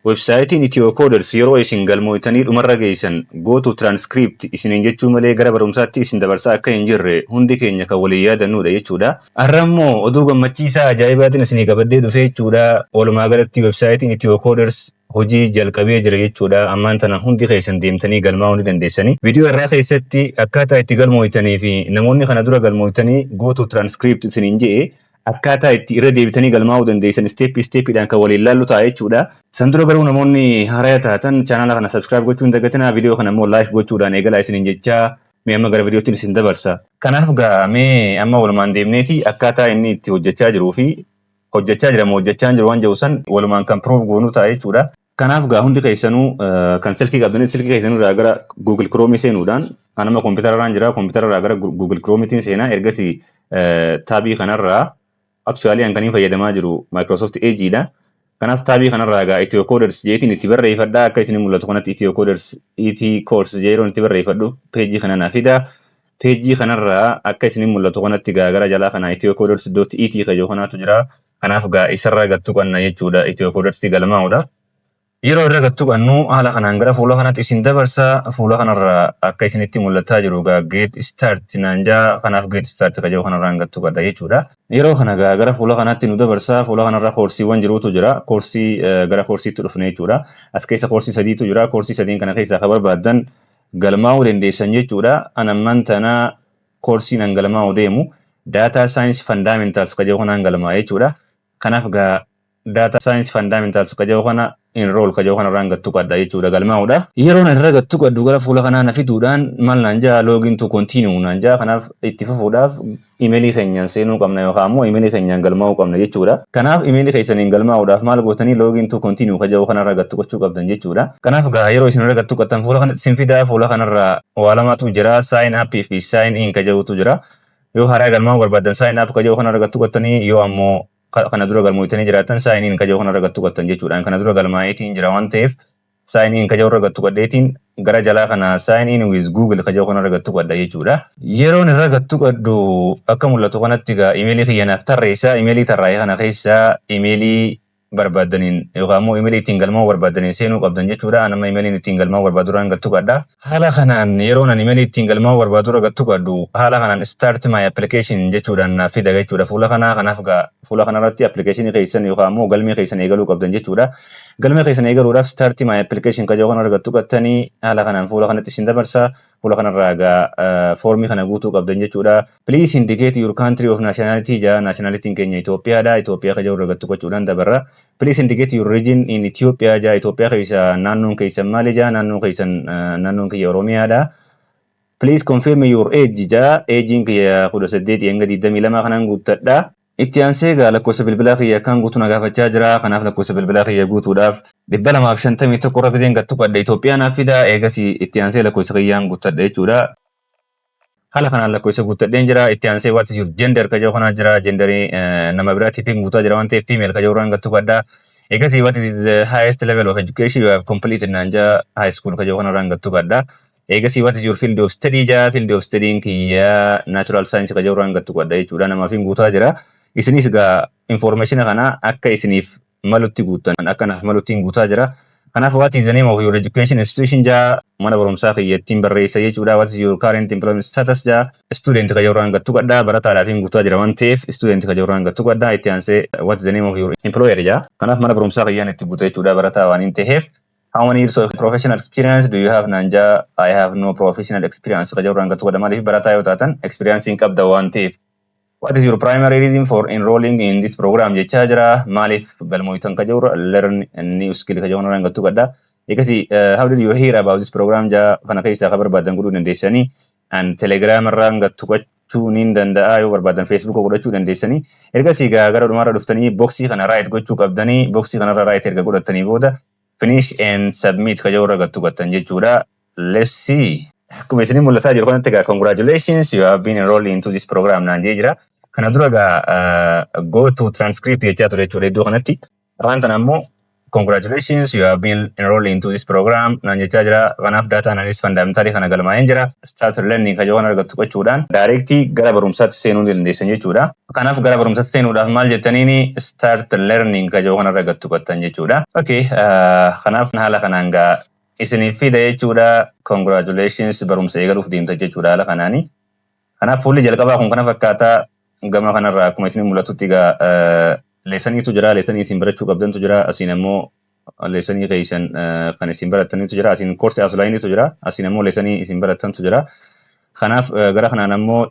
Websaayitiin Ethiocoder's yeroo isin galmooytanii dhumarra geeysan Go to transcript isiniin jechuu malee gara barumsaatti isin dabarsaa akka hin jirre hundi keenya kan waliin yaadannuudha jechuudha. Arra immoo oduu gammachiisaa ajaa'ibaatin isinii qabadhee dhufee jechuudha. Walumaa galatti websaayitiin Ethiocoder's hojii jalqabee jira jechuudha. Ammaan tana hundi keeysan deemtanii galmaa'uu ni dandeessanii. Video irraa keeysatti akkaataa itti galmooytanii fi namoonni kana dura galmooytanii Go to transcript isiniin je'e Akkaataa itti irra deebitanii galmaa'uu dandeessan step step dhaan kan waliin laallu ta'a jechuudha. San dura garuu namoonni haaraya taatan chaanaala kana subscribe gochuu hin dagatinaa video kana immoo like gochuudhaan eegalaa isiniin jechaa mee amma gara videottin isin dabarsa. Kanaaf gaa mee amma walumaan deemneeti akkaataa inni itti hojjachaa jiruu fi hojjachaa jira moo hojjachaa hin jiru waan jedhu san walumaan kan prove goonu ta'a jechuudha. Kanaaf gaa hundi keessanuu kan silkii qabdanis silkii keessanuu irraa gara Google Chrome seenuudhaan anama kompiitara irraan jira kompiitara irraa gara Google Chrome tiin seenaa ergasii taabii kanarraa actually an kaniin fayyadamaa jiru Microsoft Edge dha. Kanaaf taabii kanarraa gaa Ethio Coders jeetiin itti barreeffadha akka isin mul'atu kanatti Ethio Coders ET course jeeroon itti barreeffadhu peejii kana na fida. Peejii kanarraa akka isin mul'atu kanatti gaa gara jalaa kana Ethio Coders.et kajoo kanaatu jira. Kanaaf gaa isarraa gad tuqanna jechuudha Itiyoo Koodarsitti galmaa'uudhaaf. Yeroo irra gad tuqannu haala kanaan gara fuula kanatti isin dabarsa. Fuula kanarra akka isinitti mul'ataa jiru gaa geet istaart naan jaa kanaaf geet istaart ka jedhu kanarraan gad tuqadha jechuudha. Yeroo kana gaa gara fuula kanatti nu dabarsa. Fuula kanarra koorsiiwwan jiruutu jira. Koorsii gara koorsiitti dhufne jechuudha. As keessa koorsii sadiitu jira. Koorsii sadiin kana keessaa ka barbaaddan galmaa'uu dandeessan jechuudha. An ammaan tana koorsiin an galmaa'u deemu daataa saayinsii fandaamentaals ka jedhu kanaan galmaa'e jechuudha. Kanaaf gaa daataa saayinsii fandaamentaals ka jedhu kana enroll ka jedhu kana irraan gattu qadda jechuudha galmaa'uudhaaf. Yeroon irra gattu qaddu gara fuula kanaa na fiduudhaan maal naan ja'a login to continue naan ja'a kanaaf itti fufuudhaaf imeelii keenyaan seenuu qabna yookaan immoo imeelii keenyaan galmaa'uu qabna jechuudha. Kanaaf imeelii keessaniin galmaa'uudhaaf maal gootanii login to continue ka jedhu kanarra gattu qachuu qabdan jechuudha. Kanaaf gaa yeroo isin irra gattu qattan fuula kanatti isin fidaa fuula kanarraa waa lamatu jira sign up fi sign in ka jedhutu jira yoo haaraa galmaa'uu barbaadan sign up ka jedhu kana argattu qattanii yoo ammoo kana dura galmooytanii jiraatan sign in ka jedhu kana argattu qattan jechuudhaan kana dura galmaa'eetiin jira waan ta'eef sign in ka jedhu argattu qaddeetiin gara jalaa kana sign in with google ka jedhu kana argattu qadda jechuudha yeroon irra gattu qaddu akka mul'atu kanatti egaa imeelii kiyya naaf tarreessaa imeelii tarraa'e kana keessaa imeelii barbaaddaniin yookaan ammoo imeelii ittiin galmaa'uu barbaaddaniin seenuu qabdan jechuudha. An amma imeeliin ittiin galmaa'uu barbaadurraan gad tuqadha. Haala kanaan yeroon an imeelii ittiin galmaa'uu barbaadurra gad tuqadhu haala kanaan start my application jechuudhaan naaf fida jechuudha. Fuula kanaa kanaaf gaa fuula kanarratti appilikeeshinii keessan yookaan ammoo galmee keessan eegaluu qabdan jechuudha. Galmee keessan eegaluudhaaf start my application kan jedhu kanarra gad tuqattanii haala kanaan fuula kanatti isin dabarsa. Fuula kanarraa egaa foormii kana guutuu qabdan jechuudha. Please indicate your country of nationality jaa nationalitiin keenya Itoophiyaadha. Itoophiyaa kan jedhu irra gattu gochuudhaan dabarra. Please indicate your region in Ethiopia jaa Itoophiyaa keessa naannoon keessan maali jaa naannoon keessan naannoon kiyya Oromiyaadha. Please confirm your age jaa eejiin kiyya kudha saddeetii hanga digdamii lamaa kanaan guuttadha. Itti aansee egaa lakkoofsa bilbilaa kiyya akkaan guutu na gaafachaa jira. Kanaaf lakkoofsa bilbilaa kiyya guutuudhaaf. 251 irra gizeen gad tuqadhe Itoophiyaa naaf fida. Eegasii itti aansee lakkoofsa kiyyaan guuttadha jechuudha. Haala kanaan lakkoofsa guuttadheen jira. Itti aansee what is your gender ka jedhu kanaa jira. Genderii nama biraatiitiin guutaa jira waan ta'eef female ka jedhu irraan gad tuqadha. Eegasii what is the highest level of education you have completed naan jaa high school ka jedhu kanarraan gad tuqadha. Eegasii what is your field of study jaa field of study'n kiyyaa natural science ka jawraan gattu qadha jechuudha namaaf hin guutaa jira. Isinis gaa informationa kana akka isiniif malutti guuttan akka naaf malutti hin guutaa jira. Kanaaf what is the name of your education institution jaa mana barumsaa kiyyattiin barreessa jechuudha. What is your current employment status jaa student ka jawraan gattu qadha barataadhaaf hin guutaa jira waan ta'eef student ka jawraan gattu qadha itti aansee what is the name of your employer jaa. Kanaaf mana barumsaa kiyyaan itti guuta jechuudha barataa waan hin ta'eef How many years of professional experience do you have naan jaa I have no professional experience ka jirurraan gatu godha maaliif barataa yoo taatan experience hin qabda waan ta'eef. What is your primary reason for enrolling in this program jechaa jira maaliif galmooytan ka jirurra learn new skill ka jirurraan gatu godha. Eegasii how did you hear about this program jaa kana keessaa ka barbaadan godhuu dandeessanii. an telegram irraan gad tuqachuu niin danda'a yoo barbaadan facebook godhachuu dandeessanii ergasii gaa gara dhumaarra dhuftanii boksii kana raayit gochuu qabdanii boksii kanarra raayit erga godhattanii booda finish and submit ka jirurra gad tuqattan jechuudha let's see akkuma isinii mul'ataa jiru kanatti gaa congratulations you have been enrolled into this program naan jee jira kana dura gaa uh, go to transcript jechaa ture jechuudha iddoo kanatti Afaan tana ammoo congratulations you have been enrolled into this program naan jechaa jira kanaaf data analysis fundamentally kana galmaa'een jira start learning kan yohan argattu qachuudhaan directly gara barumsaatti seenuu ni dandeessan jechuudha kanaaf gara barumsaatti seenuudhaaf maal jettaniin start learning kan yohan argattu qattan jechuudha okay uh, kanaaf haala kanaan gaa isiniif fida jechuudha congratulations barumsa eegaluuf deemta jechuudha haala kanaanii Kanaaf fuulli jalqabaa kun kana fakkaata gama kanarraa akkuma isin mul'atutti egaa leesaniitu jira leesanii isin barachuu qabdantu jira asiin ammoo leesanii keessan kan isin barattanitu jira asiin koorsi aflaayiniitu jira asiin ammoo leesanii isin barattantu jira kanaaf gara kanaan ammoo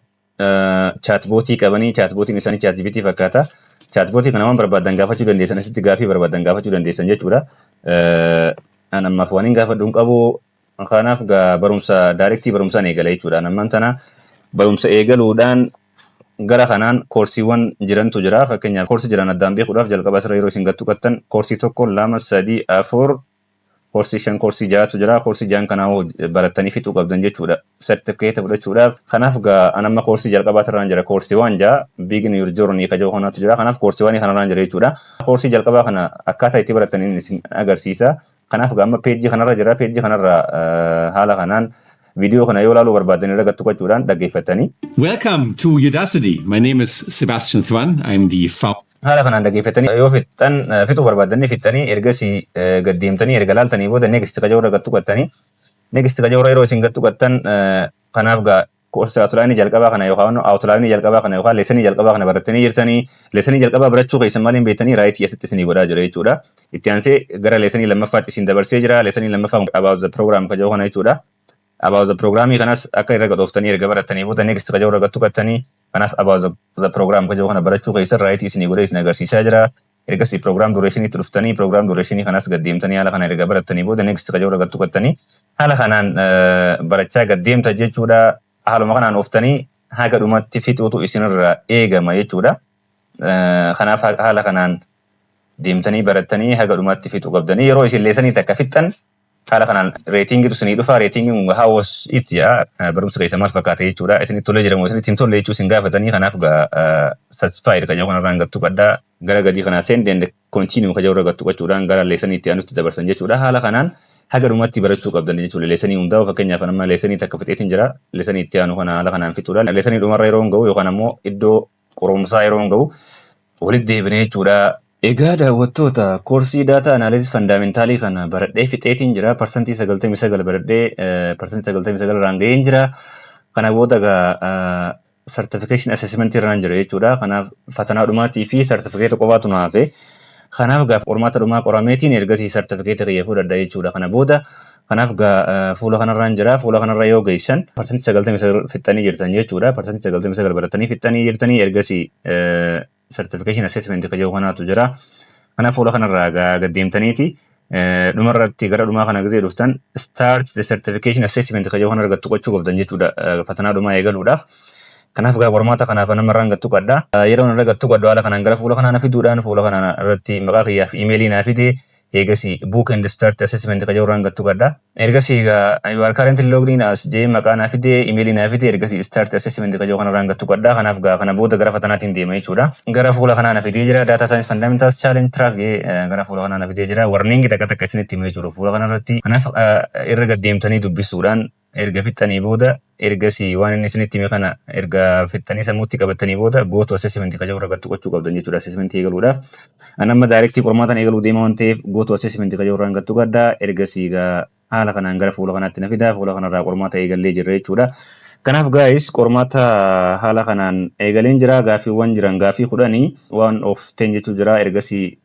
chaatbootii qabanii chaatbootiin isaanii chaatjibitii fakkaata chaatbootii kana waan barbaadan gaafachuu dandeessan asitti gaafii barbaadan gaafachuu dandeessan jechuudha an ammaaf waan hin gaafadhu hin qabu Kanaaf gaa barumsa daarektii barumsaan eegala jechuudhaan ammaan tana barumsa eegaluudhaan gara kanaan koorsiiwwan jirantu jira. Fakkeenyaaf koorsii jiran addaan beekuudhaaf jalqaba asirra yeroo isin gattuqattan koorsii tokko lama sadii afur koorsii shan koorsii ja'atu jira. Koorsii ja'an kanaa hoo barattanii fixuu qabdan jechuudha. Sertifikeeta fudhachuudhaaf. Kanaaf gaa an amma koorsii jalqabaa irraan jira koorsiiwwan ja'a Begin Your Journey ka jedhu kanatu jira. Kanaaf koorsiiwwan kanarraan jira jechuudha. Koorsii jalqabaa kana akkaataa itti barattan inni isin agarsiisa. Kanaaf egaa amma peejii kanarra jira. Peejii kanarra eh, haala kanaan viidiyoo kana yoo ilaaluu barbaaddan irra gattuqachuudhaan dhaggeeffattanii Welcome to Udacity. My name is Sebastian Thwan. I'm the founder. haala kanaan dhaggeeffattanii yoo fixxan eh, fixuu barbaaddan fixxanii ergasii eh, gad deemtanii erga laaltanii booda next qajaurra gattuqattanii next qajaurra yeroo isin gattuqattan eh, kanaaf gaa Koorsii Outline jalqabaa kana yookaan Outline jalqabaa kana yookaan lesson jalqabaa kana barattanii jirtanii lesson jalqabaa barachuu keessan malee hin beektanii right asitti isinii godhaa jira jechuudha. Itti aansee gara lesson lammaffaatti isin dabarsee jira. Lesson lammaffaa about the program ka jedhu kana jechuudha. About the programii kanas akka irra gadhooftanii erga barattanii booda next ka jedhu irra gattukattanii kanaaf about the, the program ka jedhu kana barachuu keessan right isinii godhee isin agarsiisaa jira. Ergasii program duration itti dhuftanii program duration kanas gad deemtanii haala kana erga barattanii booda next ka jedhurra gad tuqattanii haala kanaan barachaa gad deemta jechuudha. Haaluma kanaan oftanii haga dhumatti fixuutu isinirraa eegama jechuudha. Kanaaf haala kanaan deemtanii barattanii haga dhumatti fixuu qabdanii yeroo isin leesanii takka fixxan Haala kanaan reetiingiitu isinii dhufa. Reetiingiin kun how was it jedha. Barumsi keessan maal fakkaate jechuudha. Isinitti tolee jira moo isinitti hin tolle jechuu isin gaafatanii kanaaf gaa satisfied ka jedhu kanarraa hin gattu qaddaa. Gara gadii kana send and continue ka jedhu irra gattu qachuudhaan gara leesanii itti aanutti dabarsan jechuudha. Haala kanaan haga dhumatti barachuu qabdan jechuudha. Leesanii hundaa'u fakkeenyaaf amma leesanii takka fixeetiin jira. Leesanii itti aanu kana haala kanaan fixuudhaan leesanii dhumarra yeroon ga'u yookaan ammoo iddoo qorumsaa yeroon ga'u walitti deebina jechuudha. Egaa daawwattoota, koorsii Data Analysis Fundamentaalii kana baradhee fixeetiin jira. Parsantii 99 baradhee parsantii 99 irraan ga'een jira. Kana booda egaa certification assessment irraan jira jechuudha. Kanaaf fatanaa dhumaatii fi certificate qofaatu na hafe. Kanaaf egaa qormaata dhumaa qorameetiin ergasii certificate kiyya fudhadha jechuudha. Kana booda Kanaaf egaa fuula kanarraan jira. Fuula kanarra yoo geessan parsantii 99 fixxanii jirtan jechuudha. Parsantii 99 baratanii fixxanii jirtanii ergasii certification assessment ka jedhu kanaatu jira. Kanaaf fuula kanarraa egaa gad deemtaniiti dhumarratti gara dhumaa kana gizee dhuftan start the certification assessment ka jedhu kana argattu qochuu qabdan jechuudha fatanaa dhumaa eegaluudhaaf. Kanaaf egaa qormaata kanaaf namarraan gattu qadda. Yeroo narra gattu qaddu haala kanaan gara fuula kanaan fiduudhaan fuula kanaan irratti maqaa kiyyaaf imeelii naa fide Eegasii Book and Start Assessment ka jedhu irraan gad tuqadha. Ergasii egaa you are currently logged in as jee maqaa naa fide, email naa fide, ergasii Start Assessment ka jedhu kana irraan gad tuqadha. Kanaaf egaa kana booda gara fatanaatiin deema jechuudha. Gara fuula kanaa na fidee jira. Data Science Fundamentals Challenge Track jee gara fuula kanaa na fidee jira. Warning takka takka isinitti hima jechuudha fuula kana irratti. Kanaaf irra gad deemtanii dubbisuudhaan erga fixxanii booda ergasii waan inni isinitti hime kana erga fixxanii sammuutti qabattanii booda go to assessment kan jedhu irratti gochuu qabdan jechuudha assessment eegaluudhaaf. An amma daayirektii qormaataan eegaluu deema waan ta'eef go to assessment kan jedhu irraan gattuu gadda ergasii gaa haala kanaan gara fuula kanaatti na fidaa fuula kanarraa qormaata eegallee jirra jechuudha. Kanaaf gaayis qormaata haala kanaan eegaleen jira gaaffiiwwan jiran gaaffii kudhanii waan of ten jechuu jira ergasii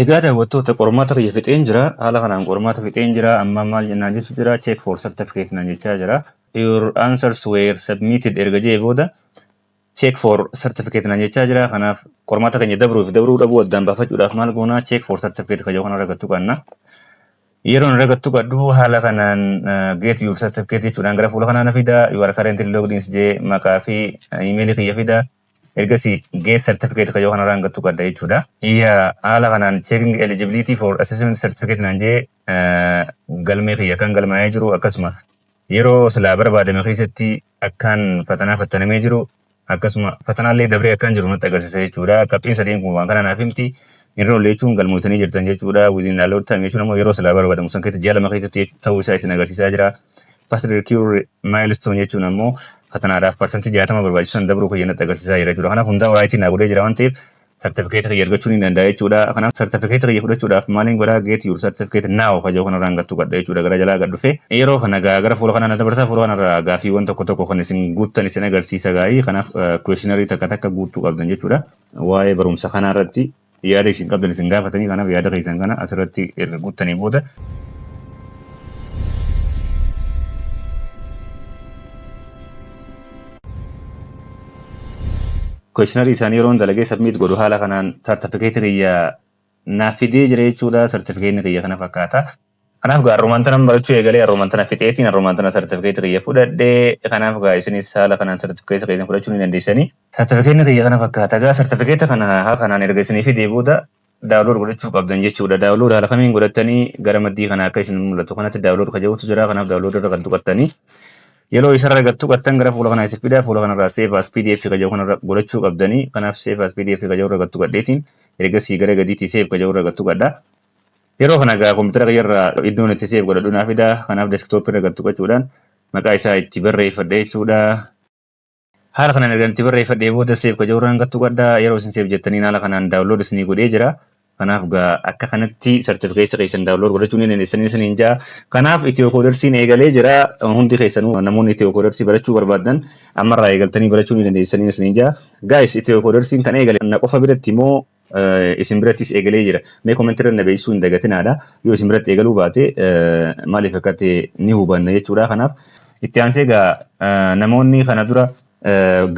Egaa daawwattoota qormaata kiyya fixeen jira haala kanaan qormaata fixeen jira ammaa maal naan jechu jira check for certificate naan jechaa jira your answers were submitted erga jee booda check for certificate naan jechaa jira kanaaf qormaata keenya dabruuf dabruu dhabuu addaan baafachuudhaaf maal goonaa check for certificate kajoo kana ragattu qabna yeroo hin ragattu qabdu haala kanaan uh, get your certificate jechuudhaan gara fuula kanaan fida you are currently logged in jee maqaa fi imeelii kiyya fida Ergasii Get Certificate kayyoo kanarra hanga tuqadha jechuudha. Iyya haala kanaan Checking Eligibility for Assessment Certificate naan jee galmee kiyya kan galmaa'ee jiru akkasuma yeroo silaa barbaadame keessatti akkaan fatanaa fattanamee jiru akkasuma fatanaallee dabree akkaan jiru natti agarsiisa jechuudha. Qabxiin sadiin kun waan kana naaf himti. Enroll jechuun galmootanii jirtan jechuudha. Within allowed time jechuun ammoo yeroo silaa barbaadamu san keessatti ji'a lama keessatti ta'uu isaa isin agarsiisaa jira. First Day Cure Milestone jechuun ammoo fatanaadhaaf parsantii jaatama barbaachisu san dabruu kiyya natti agarsiisaa jira jechuudha. Kanaaf hundaa waraayitii naa godhee jira waan ta'eef sartifikeeta kiyya argachuu ni danda'a jechuudha. Kanaaf sartifikeeta kiyya fudhachuudhaaf maaliin godhaa get your certificate now ka jedhu kanarraan gattu gadha jechuudha gara jalaa gad dhufee. Yeroo kana gaa gara fuula kanaa na dabarsaa fuula kanarraa gaafiiwwan tokko tokko kan isin guuttan isin agarsiisa gaa'ii kanaaf questionary takka takka guuttuu qabdan jechuudha. Waa'ee barumsa kanaa irratti yaada isin qabdan isin gaafatanii kanaaf yaada keessan kana asirratti erga guuttanii booda questionary isaanii yeroon dalagee submit godhu haala kanaan sartifikeetii kiyya naaf fidee jira jechuudha sartifikeetni kiyya kana fakkaata Kanaaf gaa arrumaan tanan barachuu eegalee arrumaan tana fixeetiin arrumaan tana sartifikeetii kiyya fudhadhe kanaaf gaa isinis haala kanaan sartifikeetii keessan fudhachuu ni dandeessanii. Sartifikeetni kiyya kana fakkaata gaa sartifikeeta kana haala kanaan erga isinii fidee booda daawulood godhachuu qabdan jechuudha. Daawulood haala kamiin godhattanii gara maddii kana akka isin mul'atu kanatti daawulood ka jedhutu jira kanaaf daawulood irra kan tuqattanii yeroo isarra erga tuqattan gara fuula kanaa isin fidaa fuula kanarraa save as pdf ka jedhu kanarra godhachuu qabdanii kanaaf save as pdf ka jedhu irra gattu gadheetiin ergasii gara gadiitii save ka jedhu irra gattu gadhaa. Yeroo kana egaa kompiitara kiyya irraa iddoon itti seef godhadhu naa fida. Kanaaf deeskitooppii irra gad tuqachuudhaan maqaa isaa itti barreeffadha jechuudha. Haala kanaan ergan itti barreeffadhee booda seef ka jirurraan gad tuqadha. Yeroo isin seef jettaniin haala kanaan daawunlood isinii godhee jira. Kanaaf egaa akka kanatti sartifikeessa keessan daawunlood godhachuu ni dandeessanii isiniin ja'a. Kanaaf itiyookoodarsiin eegalee jira. Hundi keessanuu namoonni itiyookoodarsii barachuu barbaaddan ammarraa eegaltanii barachuu ni dandeessanii isiniin ja'a. Gaayis itiyookoodarsiin kan eegale na qofa biratti moo isin birattis eegalee jira. Mee komentii irra na beeksisuu hin dagatinaadha. Yoo isin biratti eegaluu baate maaliif akka ta'e ni hubanna jechuudha. Kanaaf itti aansee egaa namoonni kana dura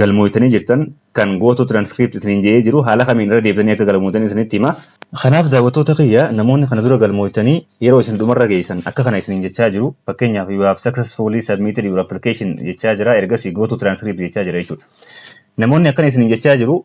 galmooytanii jirtan kan gooto transcript isiniin jedhee jiru haala kamiin irra deebitanii akka galmooytan isinitti hima. Kanaaf daawwattoota kiyya namoonni kana dura galmooytanii yeroo isin dhumarra geessan akka kana isiniin jechaa jiru. Fakkeenyaaf you have successfully submitted your application jechaa jira ergasii gooto transcript jechaa jira jechuudha. Namoonni akkana isiniin jechaa jiru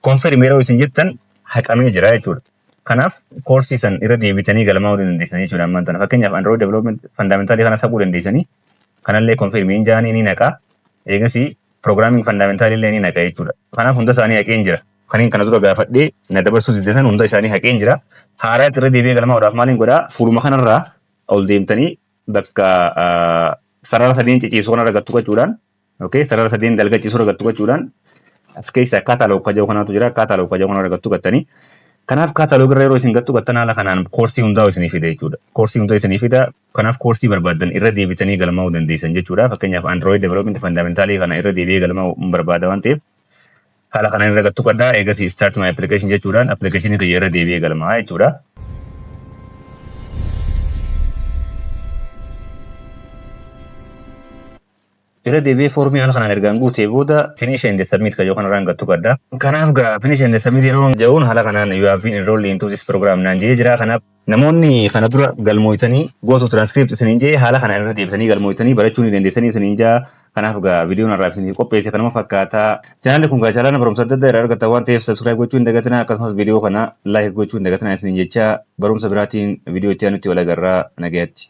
Konfirm yeroo isin jettan haqamee jira jechuudha. Kanaaf koorsii san irra deebitanii galmaa'uu ni dandeessanii jechuudha ammaan tana. Fakkeenyaaf Android Development Fundamentaalii kanas haquu dandeessanii kanallee konfirmii hin jaanii ni naqa. Eegasii Programming Fundamentaalii illee ni naqa jechuudha. Kanaaf hunda isaanii haqeen jira. Kaniin kana dura gaafadhee na dabarsuu diddesan hunda isaanii haqeen jira. Haaraatti irra deebi'ee galmaa'uudhaaf maaliin godhaa? Fuuluma kanarraa ol deemtanii bakka sarara sadeen ciciisu kanarra gattu qachuudhaan Okay, sarara sadiin dalga ciisuu irra gattu gochuudhaan as keessa kaataloog kaja'u kanaatu jira. Kaataloog kaja'u kanarra gattu gattanii. Kanaaf kaataloog irra yeroo isin gattu gattan haala kanaan koorsii hundaa isinii fida jechuudha. Koorsii hundaa isinii fida. Kanaaf koorsii barbaaddan irra deebitanii galmaa'uu dandeessan jechuudha. Fakkeenyaaf Android Development Fundamentalii kana irra deebi'ee galmaa'uu hin barbaada waan ta'eef haala kanaan irra gattu qadhaa eegasii start my application jechuudhaan appilikeeshinii kiyya irra deebi'ee galmaa'a jechuudha. Irra deebi'ee foormii haala kanaan ergaan guutee booda finish and submit kan jedhu kanarraan gad tuqadha. Kanaaf gaa finish and submit yeroo ja'uun haala kanaan you have been enrolled into this program naan jedhee jira. Kanaaf namoonni kana dura galmooytanii go to transcript isiniin jedhee haala kanaan irra deebitanii galmooytanii barachuu ni dandeessanii isiniin ja'a. Kanaaf gaa viidiyoon har'aaf isiniif qopheesse kanuma fakkaata. Chaanaalli kun gaa chaanaala barumsa adda addaa irraa argattan waan ta'eef subscribe gochuu hin dagatinaa akkasumas viidiyoo kana like gochuu hin dagatinaa isiniin jechaa barumsa biraatiin viidiyoo itti aanutti wal agarraa nagayatti.